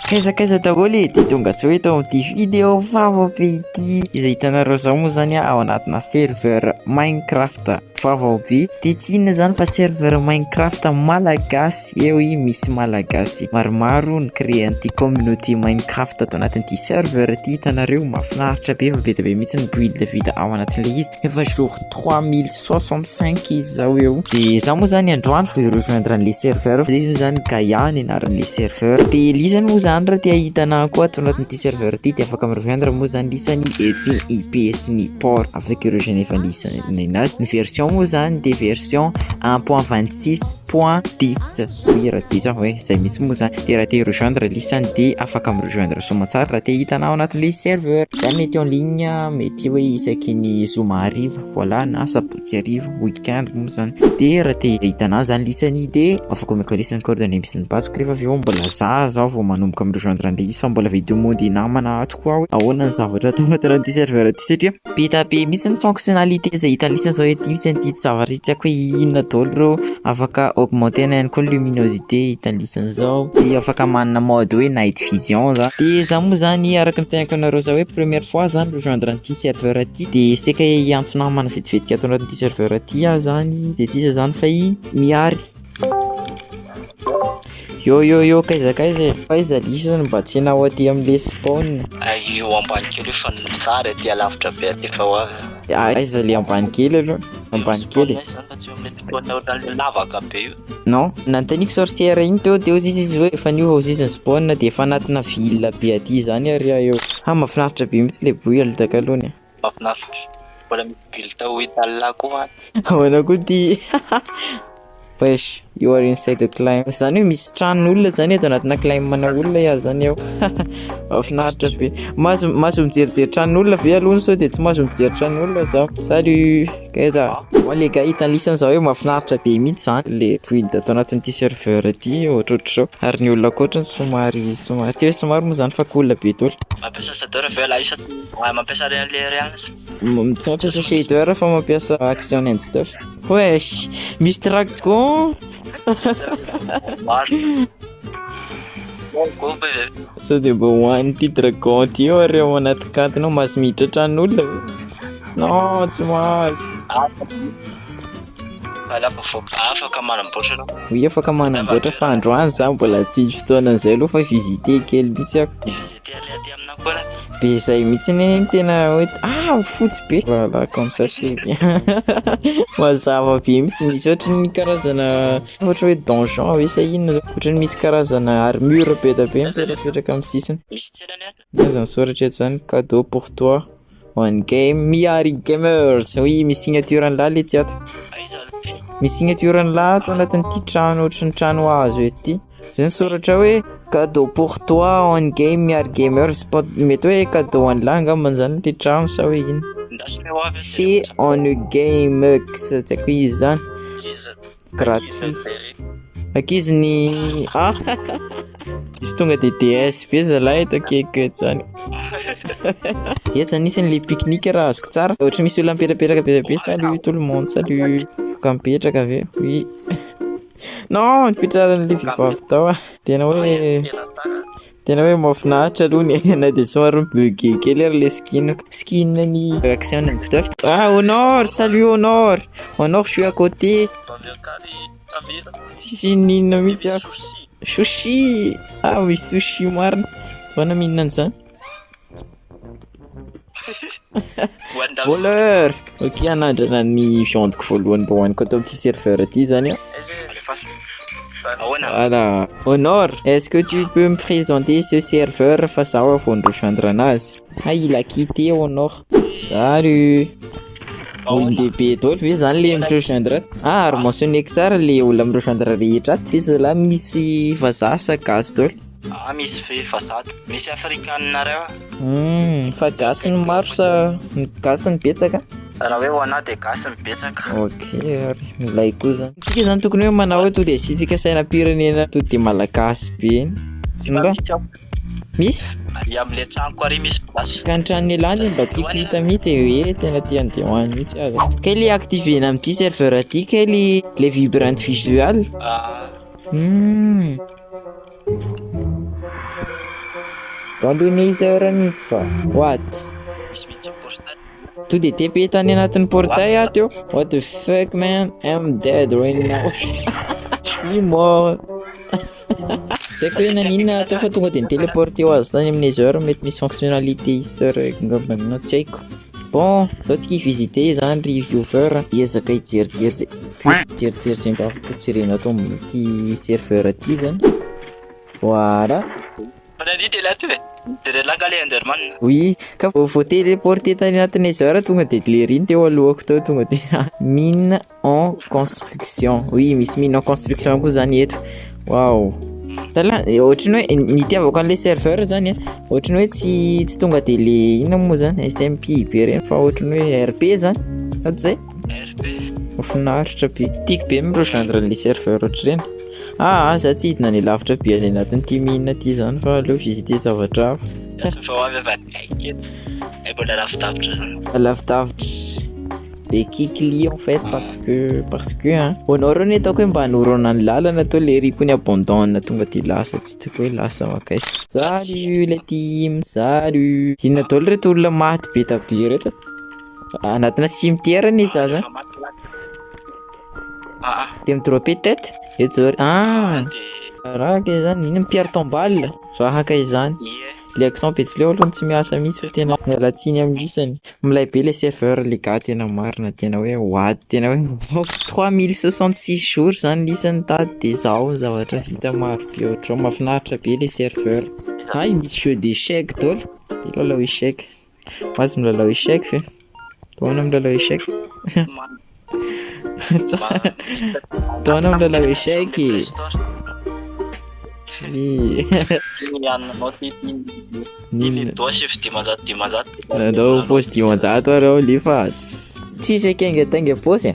Kaiza kaiza daholo e, dia tonga zao eto amin'ity video vaovao be ity izay hitanareo zao moa zany ao anatina serveur minecraft vaovao be dia tsy inona zany fa serveur minecraft malagasy eo i misy malagasy maromaro ny créer an'ity communauté minecraft ato anatin'ity serveur ity hitanareo mahafinaritra be fa be dia be mihitsy ny build vita ao anatin'ilay izy efa jour trois mille soixante cinq izy zao eo de za moa zany androany vao rejoindre an'le serveur fa izy moa zany Gaia ny anaran'le serveur de Lisa moa zany raha te hahita anah koa ato anatin'ity serveur ity de afaka mi-rejoindre moa zany Lisa ny etin'ny IP sy ny port avec ireo Geneva Lisa ninazy ny version moa zany de version un point vingt six point dix Oui raha tsy diso aho e, zay mihitsy moa zany, de raha te hi-rejoindre liste any de afaka mi-rejoindre soamantsara raha te hitanao anatin'ilay serveur. Za mety en ligne mety hoe isaky ny zoma hariva, voilà na sabotsy hariva, week-end moa zany, de raha te hitanao zany liste any de afaka omeko liste ny coordonnées misy ny basiko rehefa avy eo mbola za zao vao manomboka mi-rejoindre an'ilay izy fa mbola vao hi-demander namana ato. koa hoe ahoana ny zavatra atao anaty an'ity serveur ity satria be dia be mihitsy ny fonctionnalité izay hita listany izao ety misy an'ity zavatra ity tsy haiko hoe inona daholo ireo afaka augmenter-na ihany koa ny luminosité hita listany izao dia afaka manana mode hoe night vision izany dia izaho moa izany araka ny teneniko anareo izao hoe première fois izaho no rejoindre an'ity serveur ity dia saika hiantso namana vetivetika ato anatin'ity serveur ity aho izany dia tsy iza izany fa i Mihary Yo yo yo kaiza kaiza e. Kaiza lisa no mba tsy enao aty am le spawn. Ay eo ambany kely fa ny tsara aty alavitra be aty fa ho avy. Aiza le ambany kely aloha? Ambany kely. Spawn zany fa tsy eo am le spawn ohatran'le lavaka be io. Non, nanontaniko sorcière iny teo de ozy izy hoe efa niova ozy izy ny spawn de efa anatina ville be aty zany ary aho eo. Ha mafinaritra be mintsy le bruit aloha takaloany a. mafinaritra. Mbola misy build ao Italia koa any. Ahoana koa ty? Wesh, you are inside the claim. Zany hoe misy trano olona zany eto anatina claim mana olona ya zany eo. Mafinaritra be. Mazo mazo mijerijery trano olona ve aloha ny de tsy mazo mijery trano olona za. Salut. Kaiza? Wa le gars hitan'ny lisany za hoe mafinaritra be mihitsy zany le build ato anatin'ity serveur ity ohatrohatr'izao ary ny olona ankoatriny somary somary tsy hoe somary moa zany fa cool be daholo. Mampiasa shader ve ialahy sa tsia? Ah, mampiasa Real le Reals. Misaotra sy shader fa mampiasa action and stuff. Wesh, misy dragon. Maro. Gogo izay. Sao dia mba hoany ity dragon ity eo ary ao anaty kantiny ao mahazo miditra tran'olona ve? Non, tsy mahazo. Ala vovô afaka manamboatra anao. Oui, afaka manamboatra fa androany za mbola tsy fotoana an'izay aloha fa visiter kely mihitsy aho. Dia le aty aminao koa ratsy. Be izay mihitsy anie ny tena hoe ah fotsy be. Voilà comme ça c'est bien. Mazava be mihitsy misy ohatry ny karazana ohatra hoe donjon ve sa inona zany. Ohatry ny misy karazana armure be dia be mipetrapetraka amin'ny sisiny. Misy tselany ato. Ny ahy zany soratra eto zany cadeau pour toi. One game Miari Gamers. Oui, misy signature an'lah le tsy ato. Misy signature an'lah ato anatin'ity trano ohatry ny trano hazo ety. Zay ny soratra hoe cadeau pour toi One game Miari Gamers. Mety hoe cadeau an'lah angamba zany le trano sa hoe ino. C'est One game, tsy haiko izy zany. Gratis. Akizy ny ah izy tonga de DS be zalahy eto akeko eto zany. Etsa nisany le pique-nique raha azoko tsara. Ohatry misy olona mipetrapetraka be be salut tout le monde salut. Voka mipetraka avy eo. Oui. Non, nipetraran'ilay vehivavy tao ah. Tena hoe Tena hoe mahafinaritra aloha ny aina dia somary mi-bug kely ary ilay skin skin ny réaction an'izay teo. Ah Honor, salut Honor, Honor je suis à côté. Tsisy inona inona mihitsy aho. Sushi, ah misy sushi marina, ahoana mihinana an'izany? Voleur! Ok, anandrana ny viandiko voalohany mba hoaniko ato amin'ity serveur ity zany an. Voilà. Honor, est-ce que tu peux me présenter ce serveur fa zaho aho vao ni-rejoindre anazy? Hay il a quitté Honor. Salut! Olon-dehibe daholo ve zany le mi-rejoindre ato? Ah, ary mentionner-ko tsara le olona mi-rejoindre rehetra ato. Iza lahy misy vazaha sa gasy daholo? Ah misy ve fa zato? Misy afrikaninareo ah? Hum, fa gasy ny maro sa ny gasy ny betsaka? Raha hoe ho anah dia gasy ny betsaka. Ok, ary milay koa zany. Tsika zany tokony hoe manao hoe to dia asiantsika sainam-pirenena to dia malagasy be iny. Tsy mba Misy ao. misy? Ary amin'ilay tranoko ary misy place. Ka ny tranon'i Elah anie mba tiako hita mihitsy e, hoe tena te handeha ho any mihitsy aza. Kay le activer-na amin'ity serveur ity kay le le vibrant visual. Ah, Hum. Randonnée heure mihitsy fa what? To dia TP tany anatin'ny portail aho teo. What the fuck man, I'm dead right now. Ni mort. Tsy haiko hoe naninona atao fa tonga dia ni-téléporté ho azy tany amin'ny heures mety misy fonctionnalité easter egg angamba na tsy haiko. Bon, aleo tsika hi-visiter izany ry viewer a! Ezaka hijerijery ze hijerijery ze mba afaka hojerena ato amin'ity serveur ity izany, voilà! Bonne nuit Dela Tube e! De relax nga le Enderman. Oui, ka vao voa-teleporter tany anaty Nether tonga de Glairy-ny teo alohako teo tonga de min. en construction oui misy mine en construction koa zany eto wow tala ohatry ny hoe ny itiavako an'le serveur zany a ohatry ny hoe tsy tsy tonga de le inona moa zany smp be reny fa ohatry ny hoe rp zany fa tsy zay finaritra be tiako be mireo gendre an'le serveur ohatry reny ah za tsy hidina any lavitra be any anatin'ity mine ity zany fa aleo visiter zavatra hafa lazafa ho avy avy any eto ay mbola lavidavitra zany lavidavitra Be kikli en fait parce que parce que an hoanao reo ny ataoko hoe mba hanorana ny lalana to le ripo ny abandon tonga de lasa tsy tiako hoe lasa makaiza. Salut le team salut inona daoly reto olona maty be dia be reto anatina cimetière anie za zany de mi droppe tete eto zao ah raha kay zany ino mpiaro tombale raha kay zany. Le accent betsileo aloha no tsy miasa mihitsy fa tena miala tsiny amin'ny isany. Milay be le serveur le gars tena marina tena hoe ho ady tena hoe mbola trois mille soixante six jours zany ny isany tady de zao ny zavatra vita maro be ohatr'izao mafinaritra be le serveur. Hay misy jeux d'échecs daholo, de lalao échecs. Mahazo milalao échec ve? Taona milalao échec? Taona milalao échec e! Nadao paosy dimanjato ary ao lefa tsy zay kenga tainga paosy e!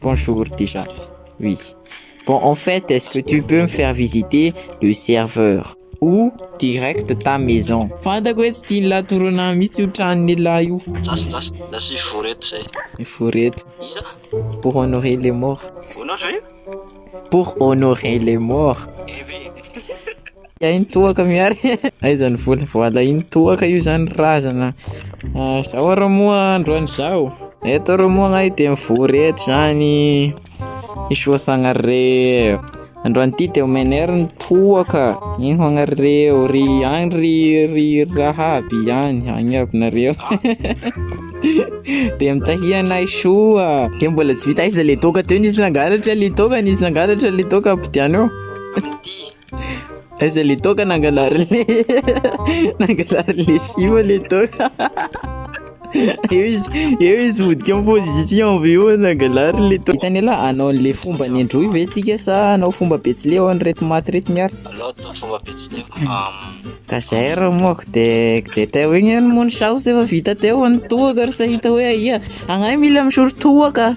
Bonjour déjà oui bon en fait est-ce que tu peux me faire visiter le serveur ou direct ta maison. Fantako hoe tsy tian'i lahy torana ahy mihitsy io tranon'i lahy io. Za sy vory eto zay. Vory eto. Iza? Pour honorer les morts. Honorer? Pour honorer les morts. Hay ny toaka Mihary e! Aiza ny vola? Voalahin'ny toaka io zany ry razana a! Zao ary moa androany zao, eto ary moa ngah dia mivory eto zany i soa sagnahare, androany ty dia omeny ahy ny toaka, eny ho agnareo, ry any ry ry raha aby any, any aby nareo dia mitahia anay soa, dia mbola tsy vita, aiza le toaka teo nisy nangalatra le toaka, nisy nangalatra le toaka, ampidianao. Aiza le toaka nangalary le nangalary le sio le toaka eo izy eo izy vodika en position avy eo nangalary le toaka hitany la anao le fomba ny androy ve tsika sa anao fomba betsileo any reto maty reto miara loto fomba betsileo ka zay ra moa ko de de teo igny any moa ny saosy efa vita teo any toaka ry sa hita hoe aia agnahy mila misoro toaka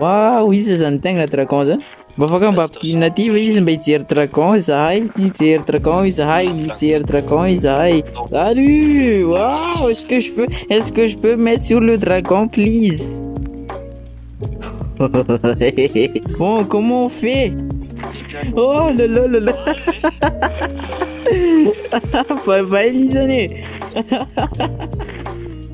Waouh, iza zany tegna dragon zany? Mba afaka mba ampidinina aty ve izy mba hijery dragon izahay, hijery dragon izahay, hijery dragon izahay. Salut! Waouh, est-ce que je peux, est-ce que je peux mettre sur le dragon please? bon, comment on fait? Oh là là là là! Bye bye Lisane!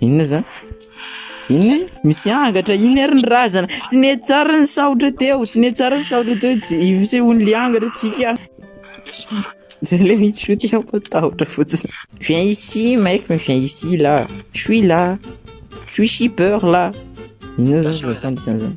Inona zany? Inona e? Misy angatra, iny ary ny razana. Tsy nety tsara ny saotra teo, tsy nety tsara ny saotra teo, isehoan'le angatra tsika. Zay le misy shoot aho fa tahotra fotsiny. Viens ici mec, mais viens ici là. Je suis là. Je suis shipper là. Inona zany zao tandrisana zany?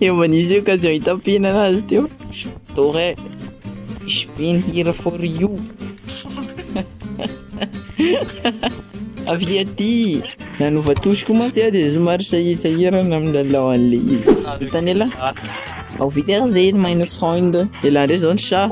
Efa nisy occasion hitampiana anazy teo. Dore, ich bin here for you. Avy aty! Nanova touche koa mantsy aho dia somary sahirsahirana amin'ny lalao an'ilay izy. Hitan'i Ella? Ao vita ary izay ny meine Freund. Ella indray izao ny chat.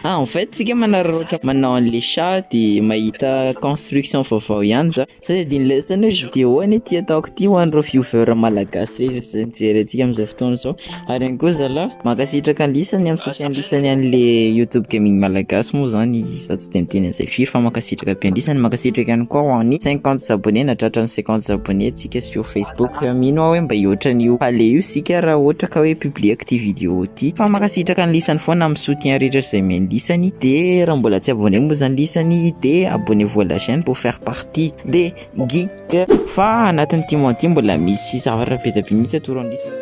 Ah, en fait, isika manararaotra manao an'ilay chat dia mahita construction vaovao ihany za. Zay adin'ny lesany hoe video anie ty ataoko ty ho an'ireo viewer malagasy rehetra izay mijery antsika amin'izao fotoana izao, ary ihany koa zalah mankasitraka an'i Lisa ny amin'ny soutien lisany an'le youtube gaming malagasy moa zany za tsy de miteny an'izay firy fa mankasitraka be an'i lisany, mankasitraka ihany koa ho an'ny cinquante abonné na tratran'ny cinquante abonné antsika sur facebook, mino aho hoe mba hihoatra an'io aller io isika raha ohatra ka hoe publieko ty video ty, fa mankasitraka an'i lisany foana amin'ny soutien rehetra izay omen'i lisany, de raha mbola tsy abonné moa zany lisany de abonnez-vous à la chaine pour faire. partie de git fa anatin'ny ity mois ity mbola misy zavatra be dia be mihitsy atoro an'isa